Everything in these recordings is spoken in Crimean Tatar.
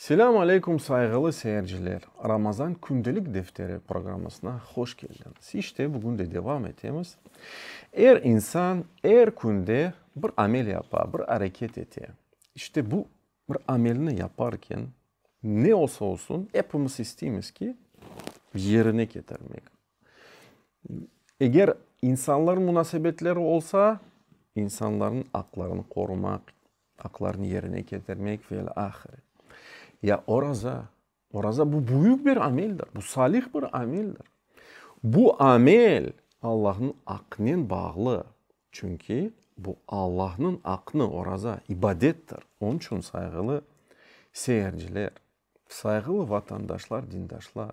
Selâm aleyküm sayğılı seyirciler! Ramazan kündelik defteri programmasına hoş keldiñiz. İşte bugün de devam etemiz. Er insan er künde bir amel yapa, bir areket ete. İşte bu bir amelni yaparken ne olsa olsun epimiz isteymiz ki, yerine ketirmek. Eger insanlar munasebetleri olsa, insanlarnıñ aqlarını qorumaq, Aqlarını yerine ketirmek ve il ahire. Ya oraza, oraza bu büyük bir ameldir, bu salih bir ameldir. Bu amel Allahnıñ aqnen bağlı, çünki bu Allahnıñ aqnı, oraza ibadettir. Onıñ içün sayğılı seyirciler. Sayğılı vatandaşlar, dindaşlar,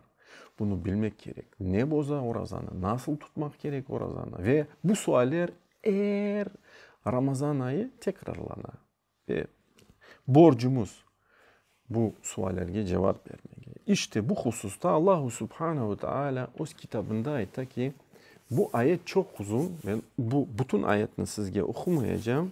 bunı bilmek kerek, ne boza orazanı, nasıl tutmaq kerek orazanı ve bu sualler er Ramazan ayı tekrarlana. Ve borcumuz bu suallerge cevap bermek. İşte bu hususta Allahu Subhana ve Taala öz kitabında ayta ki, bu ayet çoq uzun, men bu bütün ayetni sizge oqumayacağım.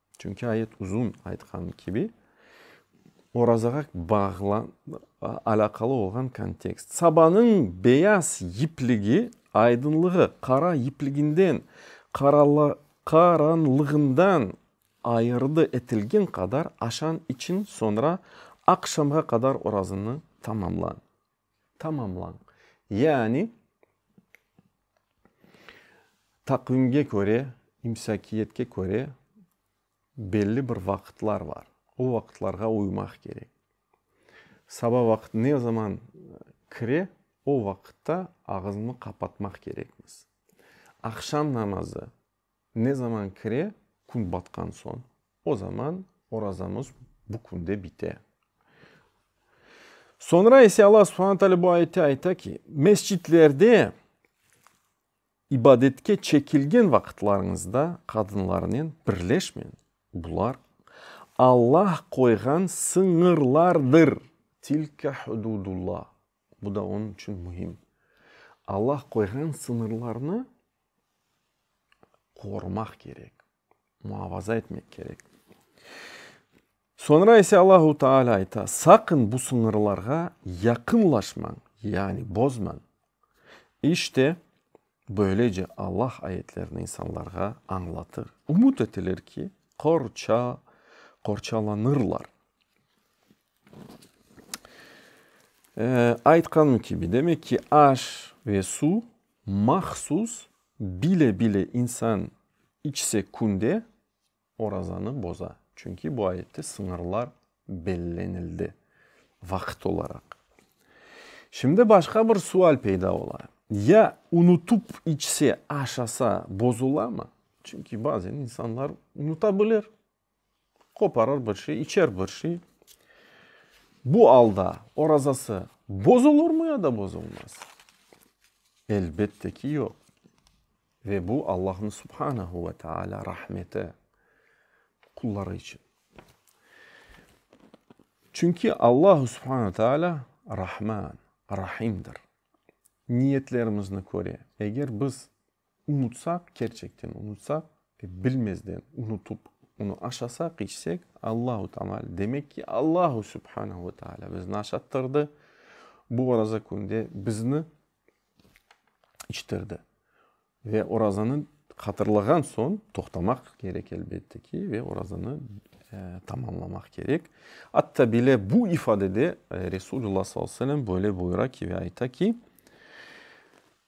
Çünki ayet uzun, aytqanım kibi, orazağa alâqalı olğan kontekst. Sabanıñ beyaz yipligi aydınlığı qara yipliginden, qaranlığından ayırdı etilgen qadar aşan içün, soñra aqşamğa qadar orazanı tamamla. tamamlañ. Yani, taqvimge köre, imsakiyetke köre belli bir vaqıtlar bar. O vaqıtlarğa uymaq kerek. Saba vaqıt ne zaman kire, o vaqıtta ağızmı qapatmaq kerekmiz. Aqşam namazı Ne zaman kire, kün batqan soñ, o zaman orazamız bu künde bite. Soñra ise Alla subhana taalâ bu ayette ayta ki, Mescitlerde ibadetke çekilgen vaqıtlarıñızda qadınlarnen birleşmeñ, bular Alla qoyğan sıñırlardır, tilke hududullah, bu da onıñ içün mühim. Alla qoyğan sıñırlarnı qorumaq kerek, muavaza etmek kerek. Soñra ise Allahu Teala ayta, Saqın bu sıñırlarğa yaqınlaşmañ, yani bozmañ. İşte, böylece Allah ayetlerini insanlarğa añlatır. Ümüt etilir ki, qorça, qorçalanırlar. Aytqanım kibi, demek ki, aş ve suv Mahsus, bile-bile insan içse künde orazanı boza. Çünki bu ayette sıñırlar bellenildi vaqıt olaraq. Şimdi başqa bir sual peyda ola, ya unutıp içse, aşasa bozulamı? Çünki bazen insanlar unuta bilir, Qoparır bir şey, içer bir şey. Bu alda orazası bozulurmı ya da bozulmaz? Elbette ki, yoq. Ve bu Allahnıñ Subhanehu ve Teala rahmeti qulları içün. Çünki Allahu Subhanehu ve Teala Rahman, Rahimdir. Niyetlerimizni köre. Eger biz. Unutsaq, kerçekten unutsaq, bilmezden unutıp onı aşasaq, içsek, Allahu tamal, demek ki, Allahu subhanahu ve taala bizni aşattırdı, bu oraza künde bizni içtirdi. Ve orazanı hatırlağan soñ toqtamaq kerek, elbette ki, ve orazanı tamamlamaq kerek. Atta bile bu ifadede Resulullah sallallahu aleyhi ve sellem böyle buyura ki, ve ayta ki,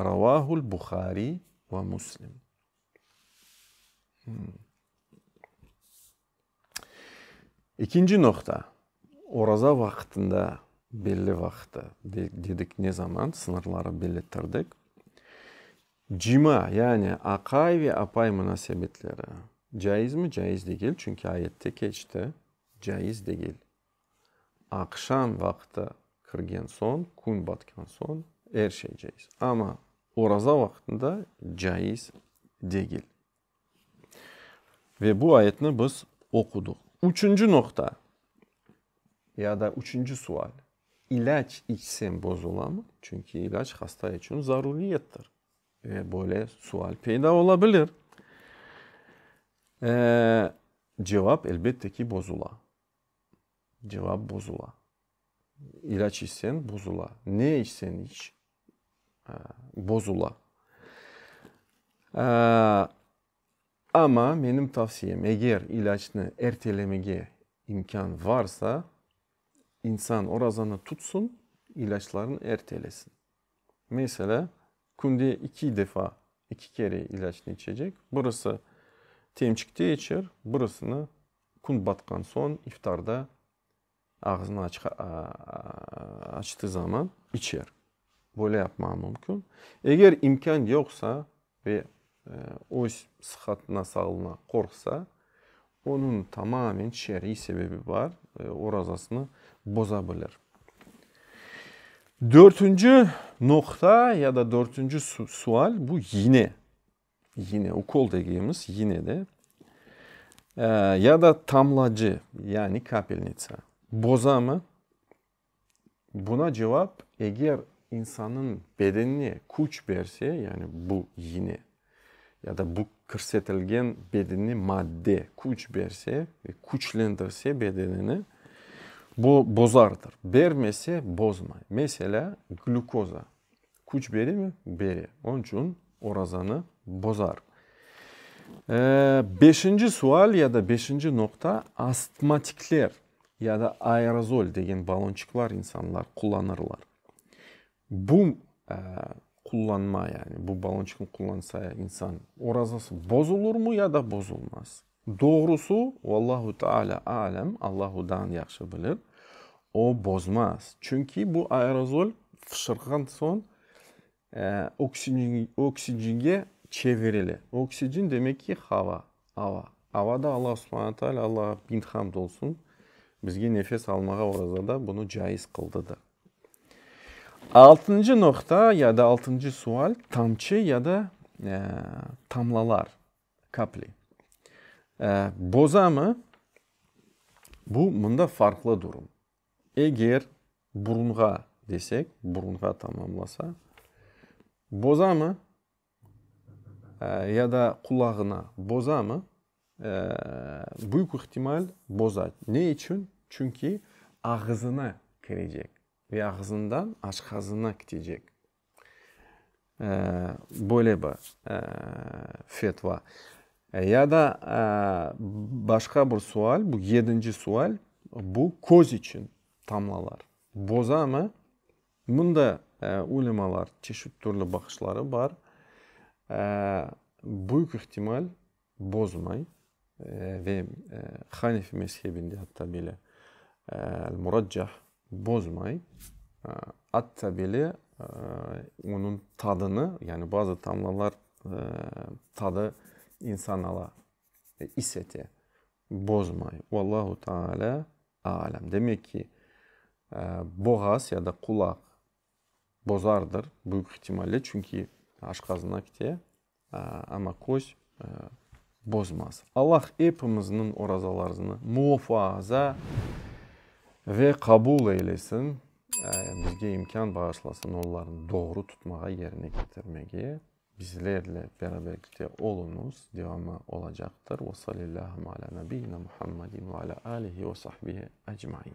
Ravâhul Buhari ve Muslim. İkinci noqta, oraza vaqtında, belli vaqtı, dedik ne zaman, sıñırları bellettirdik, cima, yani aqay ve apay munasebetleri caizmi? Caiz degil, çünki ayette keçti, caiz degil. Aqşam vaqtı kirgen soñ, kün batqan soñ er şey caiz. Amma oraza vaqtında caiz degil. Ve bu ayetni biz oquduq. Üçünci noqta ya da üçünci sual, ilâc içsem bozulamı? Çünki ilâc hasta içün zaruriyettir. Ve böyle sual peyda ola bilir. Cevap, elbette ki, bozula. cevap bozula. İlaç içsen bozula. Ne içsen iç, bozula. Amma menim tavsiyem, eger ilaçnı ertelemege imkân varsa, insan orazanı tutsun, ilaçlarını ertelesin. Meselâ, künde iki defa, iki kere ilaçnı içecek. Birisi temçikte içer, birisini Kün batqan soñ iftarda ağzını açtığı zaman içer. Böyle yapmağı mümkün. Eger imkân yoqsa ve öz sıhhatına, sağlığına qorqsa, onıñ tamamen şer'iy sebebi bar, orazasını boza bilir. Dörtünci noqta ya da dörtünci sual, bu, yine, Yine ukol degimiz, yine de. Ya da tamlacı, yani kapelnitsa. Bozamı? Buna cevap, eger insannıñ bedenine küç berse, yani bu yine, ya da bu kirsetilgen bedenine madde küç berse, küçlendirse bedenini, bu bozardır. Bermese, bozmay. Meselâ, glükoza. Küç beremi? Bere. Onıñ içün orazanı bozar. Beşinci sual ya da beşinci noqta, astmatikler ya da aerozol degen balonçıqlar insanlar qullanırlar. Bu qullanma, yani bu balonçıqnı qullansa insan orazası bozulurmı ya da bozulmaz? Doğrusı, Vallahu Teala A'lem, Alla hudan yahşı bilir, o bozmaz, çünki bu aerozol fışırğan soñ oksicenge oksicenge çevirile. Oksicen demek ki, hava, ava. Avada Alla Subhane Teala, Alla bind hamd olsun, bizge nefes almağa orazada bunı caiz qıldıdır. Altıncı noqta ya da altıncı sual, tamçı ya da tamlalar. Kapli. Bozamı? Bu mında farqlı durum. Eger burunğa desek, burunğa tamamlasa, bozamı? Ya da qulağına bozamı? Büyük ihtimal boza. Ne içün? Çünki ağızına kirecek ve ağızından aşqazına kitecek. Böyle bir fetva. Ya da başqa bir sual, bu yedinci sual, bu köz içün tamlalar bozamı? Bunda ulemalar çeşit türlü baqışları bar. Büyük ihtimal, bozmay ve Hanefi mezhebinde atta bile Al-Muraccah bozmay, atta bile onıñ tadını, yani bazı tamlalar tadı insan ala, is ete, bozmay. Vallahu taala a'lem. Demek ki, boğaz ya da qulaq bozardır büyük ihtimalle, çünki aşqazınak te. Amma köz bozmaz. Allah epimizniñ orazalarznı muofaza ve qabul eylesin, bizge imkân bağışlasın ollarnı doğru tutmağa, yerine ketirmege. Bizlerle beraberlikte oluñız, devamı olacaqtır. Ve sallâllâhu alâ nabiyyina Muhammadin ve alâ âlihi ve sahbihi ecmain.